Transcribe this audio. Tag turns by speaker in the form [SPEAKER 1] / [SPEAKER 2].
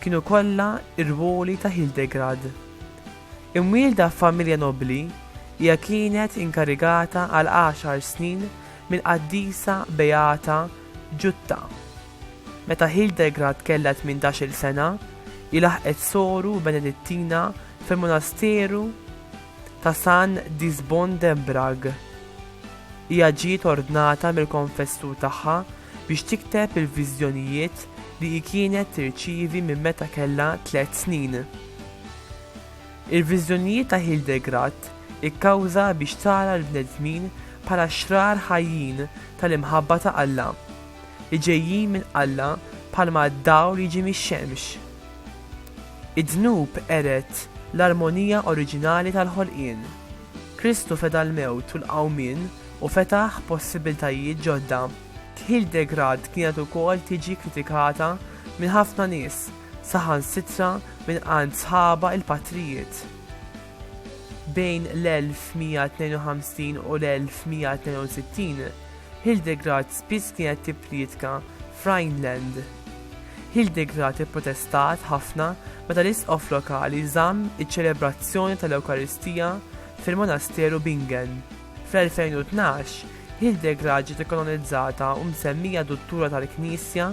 [SPEAKER 1] kienu kollha r-rwoli ta' Hildegrad. Imwielda f'familja nobbli, hija kienet inkarigata għal għaxar snin mill-qaddisa beata Ġutta. Meta Hildegrad kellha tmintax-il sena, hi laħqet soru Benedittina fil-monasteru ta' San Disbon de Brague. Hija ġiet ordnata mill-konfessur tagħha biex tikteb il-viżjonijiet li hi kienet tirċievi minn meta kellha tliet snin. Il-viżjonijiet ta' Hildegrat ikkawża biex tara l-bnedmin bħala xrar ħajjin tal-imħabba ta' Alla, li ġejjin minn Alla bħalma d-dawl jiġi mix-xemx. Id-dnub qered l-armonija oriġinali tal-ħolqien. Kristu feda l-mewt u l-qawmien u fetaħ possibbiltajiet ġodda. Tħil degrad kienet ukoll tiġi kritikata minn ħafna nies, saħansitra minn għand sħabha il-patrijiet. Bejn l-1152 u l-1162, Hildegard spiss kienet tipprietka f'Rhineland. Hildegard ipprotestat ħafna meta l-isqof lokali żamm iċ-ċelebrazzjoni tal-Ewkaristija fil-monasteru Bingen. Fl-2012, Hildegard ġiet ikkanonizzata u msemmija duttura tal-Knisja